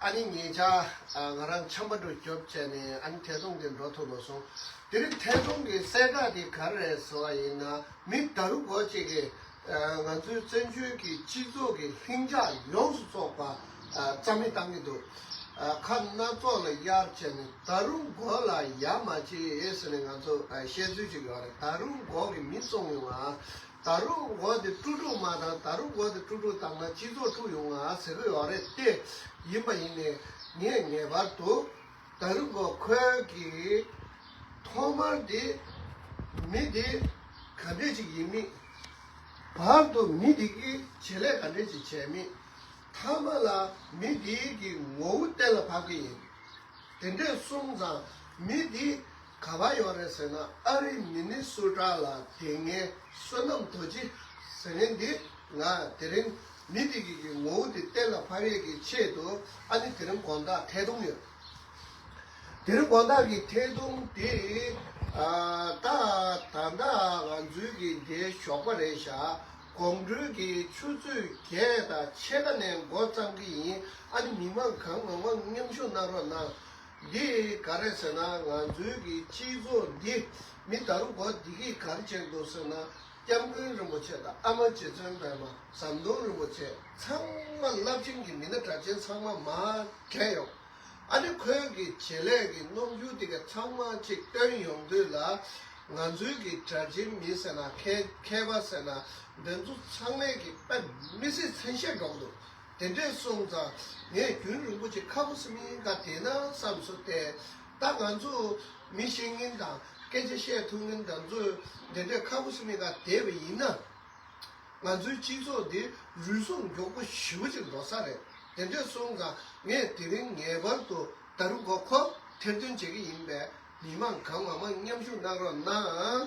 ཨ་ནི་ངེད་ཅག་ང་རང་ཆམ་པ་འགྲོ་སྐྱོབ་བྱས་ནས་ཨ་ནི་ཐེ་ཚོམ་གྱིས་འགྲོ་ཐུབ་མ་སོང། དེ་རིང་ཐེ་ཚོམ་གྱི་གསལ་བསྒྲགས་དེ་ག་རེ་ཟེར་བ་ཡིན་ན་མི་ད་རུ་འགོ་གཅིག་གིས་ང་ཚོའི་བཙན་བྱོལ་གྱི་སྤྱི་ཚོགས་ཀྱི་ལྷིང་འཇགས་ཡོངས་སུ་བཙོག་པ་རྩ་མེད་བཏང་གི་འདུག་ཁ་སྣ་ཙོག་ལ་གཡར་བྱས་ནས་ད་རུ་འགོ་ལ་ཡ་མ་བྱེད་ཟེར་ནས་ང་ཚོར་བཤད་ཚུལ་ཅིག་ཡོད་རེད་ད་རུ་འགོ་གི་མི་བཙོང་ཡོང་ང། ད་རུག་འོ་དེ་ཀྲུག་ཀྲུག་མ་དང་ད་རུག་འོ་དེ་ཀྲུག་ཀྲུག་བཏང་ན་སྤྱི་ཚོགས་འཁྲུག་ཡོང་ང་ཟེར་གི་ཡོག་རེད་ཏེ། ཡིན་པ་ཡིན་ནས་ངས་ངེས་པར་དུ་ད་རུག་འོ་ཁོལ་གི། ཐོག་མར་དེ་མི་དེ་ག་འདྲས་ཅིག་ཡིན་མིན། བར་དུ་མི་དེ་གི་བྱེད་ལས་ག་འདྲས་ཅིག་བྱས་མིན། ཐ་མ་ལ་མི་དེའི་གི་ངོ་བོ་གཏན་ལ་ཕབ་གི་ཡིན། དེ་འདྲས་སོང་ཙང་མི་དེ་ག་པར་ཡོང་རེད་ཟེར་ན་ཨ་རི་མི་ནི་སུ་དྲག་ལ་དེ་ངའི་བསོད་ནམས་རྡོ་རྗེ་ཟེར་ངེས་འདི་ང་དེ་རིང་མི་དེ་གི་གི་ངོ་བོ་དེ་གཏན་ལ་ཕབ་ཡས་ཀྱི་ཆེད་དུ་ཨ་ནི་དེ་རིང་དགོངས་དག་ཐད་གཏོང་ཡོད་དེ་རིང་དགོངས་དག་གི་ཐད་གཏོང་དེ་ད་ད་ད་ང་ཚོའི་གི་འདའི་ཞོགས་པ་རེད་ཤག་དགོང་དྲོའི་གི་ཆུ་ཚོད་བརྒྱད་དང་ཕྱེད་ཀ་ནས་མགོ་བརྩམ་གི་ཡིན་ཨ་ནི་མི་མང་གང་ངོ་མང་མཉམ་ཞུགས་གནང་རོགས་གནང་འདི་ག་རེད་ཟེར་ན་ང་ཚོའི་གི་སྤྱི་ཚོགས་འདི་མི་ད་རུང་གོ་བདེ་གི་གར་བྱེད་འདུག་ཟེར་ན་སྐྱབས་མགོན་རིན་པོ་ཆེ་དང་ཨ་མ་རྗེ་བཙུན་པད་མ་ཟམ་གདོང་རིན་པོ་ཆེ་ཚང་མ་རླབས་ཆེན་གི་མི་སྣ་གྲགས་ཆེན་ཚང་མ་མ་གྲས་ཡོང་ཨ་ནི་ཁོན་གི་བྱེད་ལས་གི་རྣོ་འགྱུར་དེ་ག་ཚང་མ་ཅིག་བཏོན་ཡོང་དུས་ལ་ང་ཚོའི་གི་གྲགས་ཆེན་མི་ཟེར་ན་མཁས་པ་ཟེར་ན་འདི་ཚོ་ཚང་མས་གི་དཔེ་མི་སྲིད་མཚན་ཤས་འགྲོ་གི་འདུག། དེ་འདྲས་སོང་ཙང་ངས་རྒྱུན་རིན་པོ་ཆེ་ཁ་བོ་སི་མིང་ག་དེ་ན་བསམ་སོ་ཏེ། ད་ང་ཚོ་མི་ཤེས་ངན་དང་སྐད་ཆ་བཤད་ཐུབ་ངན་དང་ཚོས་དེ་འདྲས་ཁ་བོ་སི་མིང་ག་དེ་བས་ཡིན་ན། ང་ཚོའི་སྤྱི་ཚོགས་འདི་རུལ་སུངས་མགྱོགས་པོ་ཞི་བོ་ཅིག་འགྲོ་ས་རེད་དེ་འདྲས་སོང་ཙང་ངས་དེ་རིང་ངེས་པར་དུ་ད་རུ་གོ་ཁོ་ཐེར་འདོན་བྱེད་ཀྱི་ཡིན་པས་མི་མང་གང་མང་མང་མཉམ་ཞུགས་གནང་རོགས་གནང།